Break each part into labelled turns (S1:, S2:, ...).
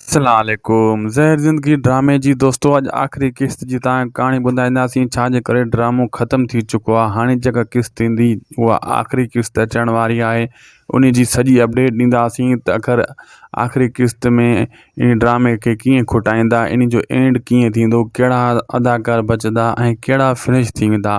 S1: السلام عليڪم زهر زندگي ڊرامي جي دوستو اڄ آخري قسط جي تان ڪهاڻي ٻڌائينداسين ڇا جي ڪري ڊرامو ختم ٿي چڪو آهي هاڻي جيڪا قسط ايندي اها آخري قسط اچڻ واري آهي انهي جي سڄي اپڊيٽ ڏينداسين ته اخر آخري قسط ۾ ان ڊرامي کي ڪيئن کٽائيندا ان جو اينڊ ڪيئن ٿيندو ڪهڙا اداڪار بچدا ۽ ڪهڙا فنش ٿي ويندا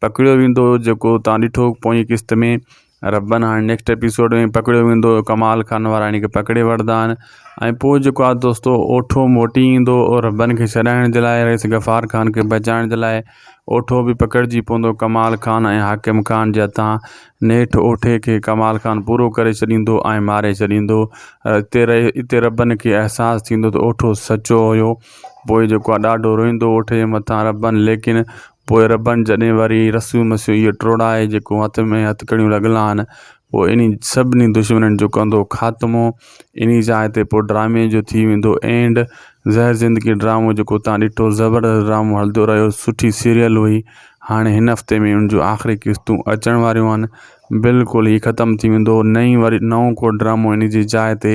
S1: پڪڙيو ويندو جيڪو تان ڏٺو پوئين قسط ۾ ربن هاڻي نيڪسٽ ايپيسوڊ ۾ پڪڙيو ويندو ڪمال خان وارا هن کي پڪڙي وٺندا آهن ۽ پوء جيڪو آ دوستو اوٺو موٽي ايندو ربن کي ڇڏائڻ جي لاء رئيس غفار خان کي بچائڻ جي لاء اوٺو به پڪڙجي پوندو ڪمال خان ۽ حاڪم خان جي هٿان نيٺ اوٺي کي ڪمال خان پورو ڪري ڇڏيندو ۽ ماري ڇڏيندو اتي رئي اتي ربن کي احساس ٿيندو ته اوٺو سچو هيو پوء جيڪو آ ڏاڍو روئيندو اوٺي جي مٿان ربن ليڪن پوء ربن جڏهن وري رسول مسيح اهو ٽوڙائي جيڪو هٿ ۾ هٿڪڙيون لڳل آهن، پوء انهي سڀني دشمنن جو ڪندو خاتمو انهي جاء تي پوء ڊرامي جو ٿي ويندو اينڊ زهر زندگي ڊرامو جيڪو تان ڏٺو زبردست ڊرامو هلدو رهيو سٺي سيريل هئي هاڻي هن هفتي ۾ ان جون آخري قسطون اچڻ واريون آهن بلڪل هي ختم ٿي ويندو نئين وري نئون ڪو ڊرامو انهي جي جاء تي